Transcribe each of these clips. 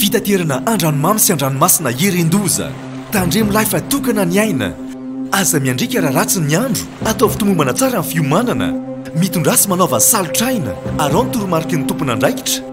Fitaterana andranomamy sy andranomasina irindoza. Tandremo lahy fa tokana ny aina. Aza miandrika raha ratsy ny andro. Ataovy tomombana tsara ny fiomanana. Mitondrasy manaova salotraina. Arao ny toromariky ny tompon'andraikitra.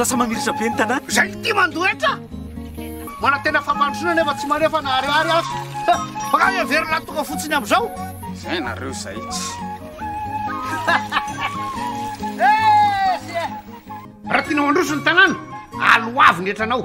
lasa mamirisa be ny tanàna zay ty mandoetra manantena fampandrosoana nefa tsy manefa na ariary azy fa ka heverina tonga fotsiny am'izao Zay nareo zay Raha tianao handroso ny tanàna, aloavy ny etranao.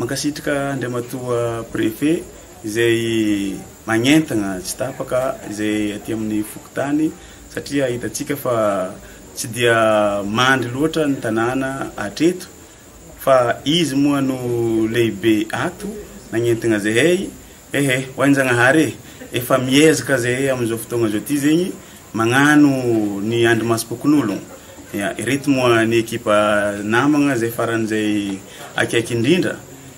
Mankasitraka Andriamatoa Préfet izay magnentagna tsy tapaka izay aty amin'ny fokontany satria hitantsika fa tsy dia mandry loatra ny tanàna hatreto Fa izy moa no lehibe ato nagnentigna zahay ehe ho an Zagnahary e! Efa miezaka zahay amizao fotoagna zao ty zegny magnano ny andry masom-pokonologno ireto moa ny ekipa namagna zay faran'izay akaiky indrindra,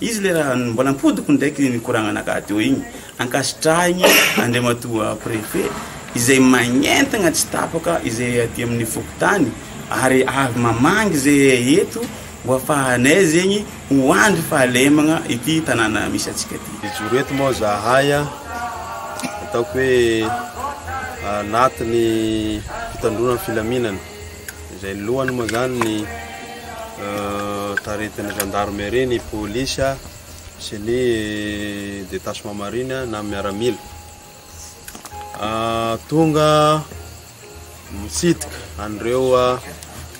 Izy le raha mbola ampodiko ndraiky mikoragnana gadio igny ankasitrahigny Andriamatoa Préfet izay magnentagna tsy tapaka izay aty amin'ny fokontany ary avy mamangy zahay eto ho afahanay zegny ho andry fahalemagna ity tanàna misy antsika ty. Mijoro eto moa zahay ataoko hoe anatin'ny fitandroana ny filaminana. izay ny lohany moa zany ny taretin'ny gendarmerie, ny polisy sy ny détachement marine na miaramila. Ah, tonga mitsidika an'ireo ah,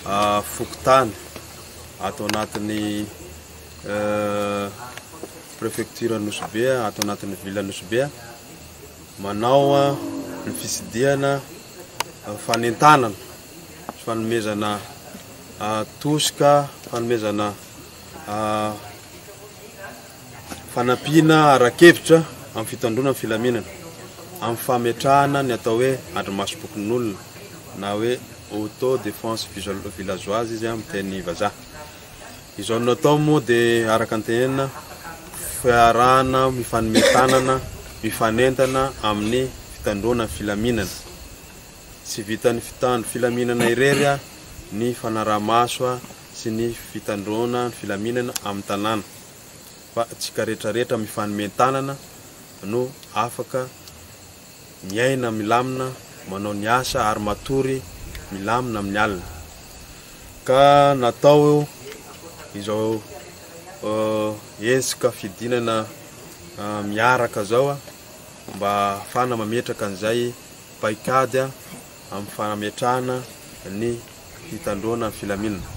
ah, fokontany ato anatin'ny eh, prefecture Nosy Be, ato anatin'ny ville Nosy Be. Manao ny fitsidihana fanentanana sy fanomezana tosika, fanomezana fanampiana ara-kevitra amin'ny fitandroana ny filaminana, amin'ny fametrahana ny atao hoe andrimasom-pokonolona na hoe auto defense villageoise izy amin'ny teny vazaha. Izao natao moa dia araka ny tenenina fiarahana mifanome tanana, mifanentana amin'ny fitandroana ny filaminana. Tsy vitan'ny mpitandro filaminana irery ny fanaraha-maso sy ny fitandroana ny filaminana amin'ny tanàna fa antsika rehetra rehetra mifanome tanana no afaka miaina milamina, manao ny asa ary matory milamina amin'ny alina. Ka natao izao hetsika fidinana miaraka izao mba hahafahana mametraka an'izay paikady amin'ny fanametrahana ny fitandroana ny filaminana.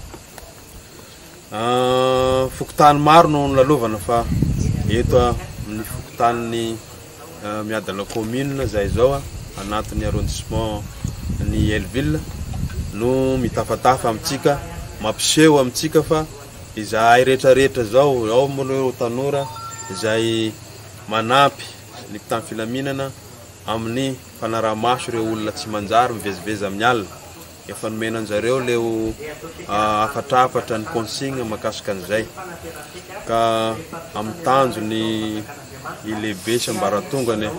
Ah, fokontany maro no nolalovana fa eto amin'ny fokontanin'ny ah, miadana commune izay izao ah, anatin'ny arrondissement ny Elville no mitafatafa amintsika mampiseho amintsika fa izahay rehetrarehetra izao ao moa ireo tanora izay manampy ny mpitany filaminana amin'ny Fanaraha-maso ireo olona tsy manjary mivezivezy amin'ny alina. Efa nomena anjareo leo hafatrafatra ny consigne makasika an'izay. Ka amin'ny tanjo ny lehibe sy ambaratongany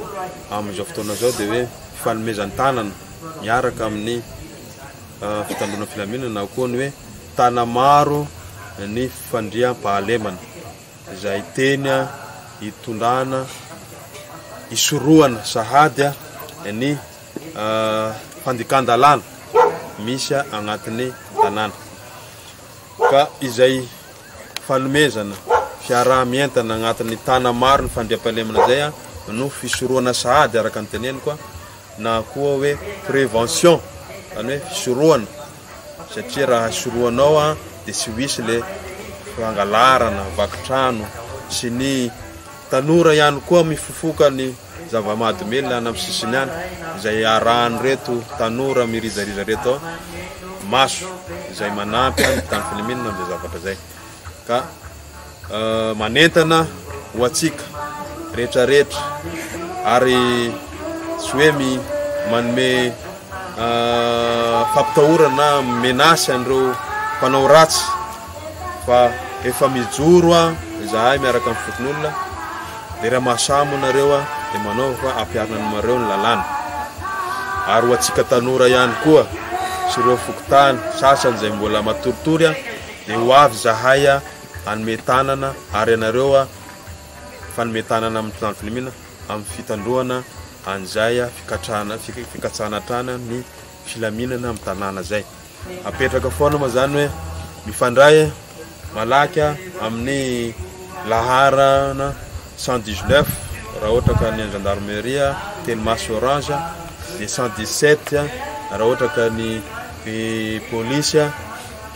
amin'izao fotoana izao dia hoe fifanomezan-tanana miaraka amin'ny fitandroana filaminana na koa ny hoe tanamaro ny fandriampahalemana. izay teny hitondrana, hisorohana sahady ny fandikan-dalàna misy agnatin'ny tanàna. Ka izay fanomezana fiaraha-mientana agnatin'ny tana maro ny fandriampahalemana izay no fisorohana sahady araka ny teneniko na koa hoe prévention, izany hoe fisorohana satria raha sorohanao an dia tsy wisy le fangalarana vaky trano sy ny tanora ihany koa mifofoka ny zava-mahadomelina any amin'ny sisiny any izay arahan'ny reto tanora mirizariza reto maso izay manampy any tany filimina amin'izay zavatra izay ka manentana ho antsika rehetrarehetra ary tsy hoe mi manome fampitahorana menace an'ireo mpanao ratsy fa efa mijoro a izahay miaraka amin'ny fokonolona dia raha mahasamo nareo a dia manao fa ampiarina anareo ny lalàna ary ho antsika tanora ihany koa sy ireo fokontany sasany izay mbola matoritory a Dia ho avy izahay hanome tanana ary ianareo fanome tanana amin'ny mpitandro filaminana amin'ny fitandroana an'izay fikatrahana fikatsahana hatrany ny filaminana amin'ny tanàna izay. Apetraka foana moa izany hoe mifandray malaky amin'ny laharana 119 raha ohatra ka ny an'ny gendarmerie teny maso orange dia 117 raha ohatra ka ny polisy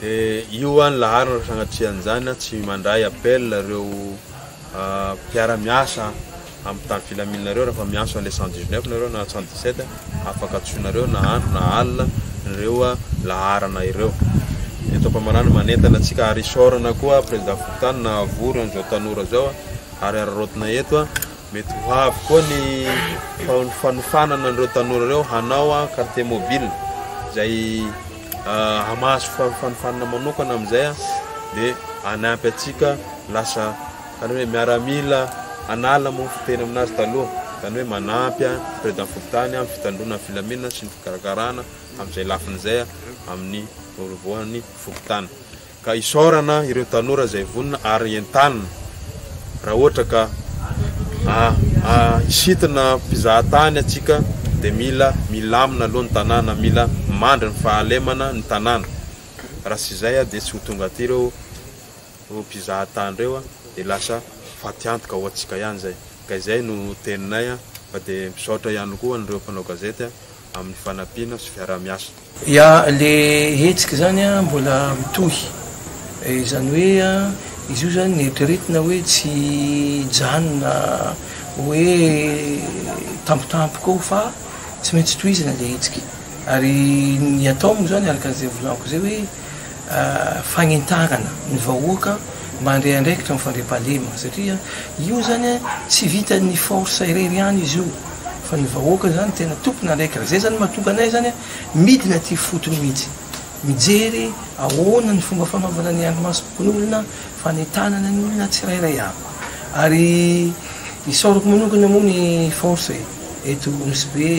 De io an laharana sagnatrehan'izany an tsy mandray appel reo mpiara miasa am tany filaminana reo rafa miantso anle cent dix neuf nareo na cent dix sept afaka antsoinareo na andro na alina reo laharana ireo eto ampamarana manentana antsika ary isaorana koa prezida fokontany nahavory anzao tanora zao ary araraotina eto an mety ho avy koa ny fanofanana anreo tanora reo hanao an quartier mobile zay hamaso fanofanana manokana amin'izay dia hanampy antsika lasa izany hoe miaramila hanala moa ny fiteny aminazy taloha, izany hoe manampy ny président fokontany amin'ny fitandroana ny filaminana sy ny fikarakarana amin'izay lafiny izay amin'ny voalohany fokontany. Ka isaorana ireo tanora izay vonona ary entanina raha ohatra ka hisintina mpizaha tany atsika dia mila milamina aloha ny tanàna, mila mandry ny fahalemana ny tanàna. Raha tsy izay dia tsy ho tonga aty ireo mpizaha tany ireo dia lasa fatiantoka ho antsika ihany izay. Ka izay no teninay fa dia misaotra ihany koa an'ireo mpanao gazety. amin'ny fanampiana sy fiaraha-miasa. Ya, le hetsika zany an mbola mitohy, izany hoe an izy io zany netritna hoe tsy hijanona hoe tampotampoka eo fa tsy maintsy tohizana le hetsika ary ny atao moa zany araka izay volako zay hoe. fagnentanana ny vahoaka mba handray andraikitra ny fandriampahalemana satria io zany a tsy vitan'ny force irery ihany izy io fa ny vahoaka zany tena tompona andraikitra zay zany mahatonga anay zany a midina aty fotony mihitsy mijery ahoana ny fomba fanaovana ny andrimasom-pokonolona fanentanana ny olona tsirairay avy ary isaorako manokana moa ny force eto Nosy Be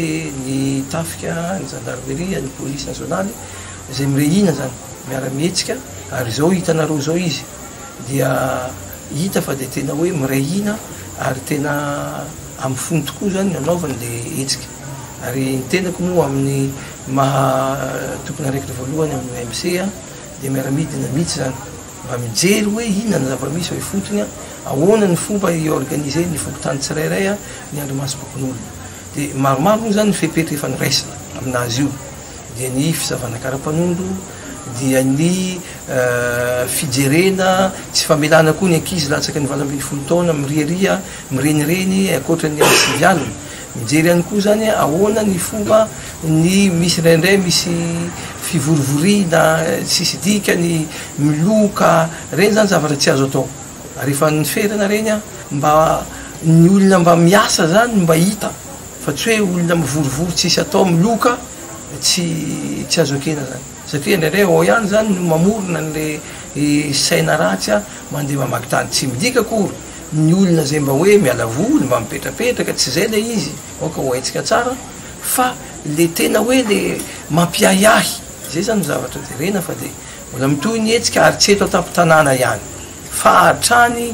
ny tafika ny gendarmerie ny police nationale izay mire hina zany miara mihetsika ary zao hitanareo zao izy dia hita fa dia tena hoe miray hina ary tena amin'ny fony tokoa zany no anaovany le hetsika ary ny tenako moa amin'ny maha tompon'andraikitra voalohany amin'ny OMC a dia miara midina mihitsy zany mba mijery hoe inona ny zava-misy ao ifotony a ahoana ny fomba i-organiser ny fokontany tsirairay a ny andrimasom-pokonolona dia maromaro moa zany ny fepetra efa noraisina amin'azy io dia ny fisavana karapanondro, dia ny fijerena tsy famelana koa ny ankizy latsaky ny valo ambin'ny folo taona miriaria mirenireny ankoatra ny ady sivy alina. Mijery ihany koa izany hoe ahoana ny fomba ny misy indraindray misy fivorivoriana tsisy dikany, miloka, ireny izany zavatra tsy azo atao ary efa ny ferana ireny mba ny olona mba miasa izany mba hita. Fa tsy hoe olona mivorivory tsisy atao miloka tsy tsy azo ekena zany satria indraindray ao ihany zany no mamorona anle saina ratsy a mandeha mamaky tany tsy midika akory ny olona zay mba hoe miala voly mba mipetrapetraka tsy zay le izy aoka ho haintsika tsara fa le tena hoe le mampiahiahy zay zany no zavatra jerena fa de mbola mitohy ny hetsika ary tsy eto antampon-tanàna ihany fa hatrany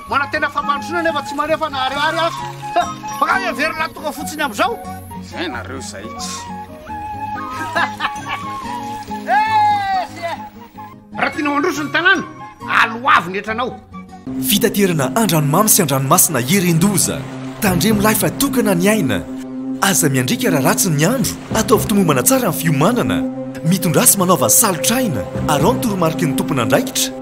Manantena fampandrosoana nefa tsy maneho fa naharihary aho. Makany averina lahy tonga fotsiny amin'izao. Zay nareo zay. Raha tianao handroso ny tanàna, aloavy ny hetranao. Fitaterana andranomamy sy andranomasina herin-doza. Tandremo lahy fa tokana ny aina. Aza miandriaka raha ratsy ny andro. Ataovy tomombana tsara ny fiomanana. Mitondrasy manaova salotr'aina. Araho ny toromariky ny tompon'andraikitra.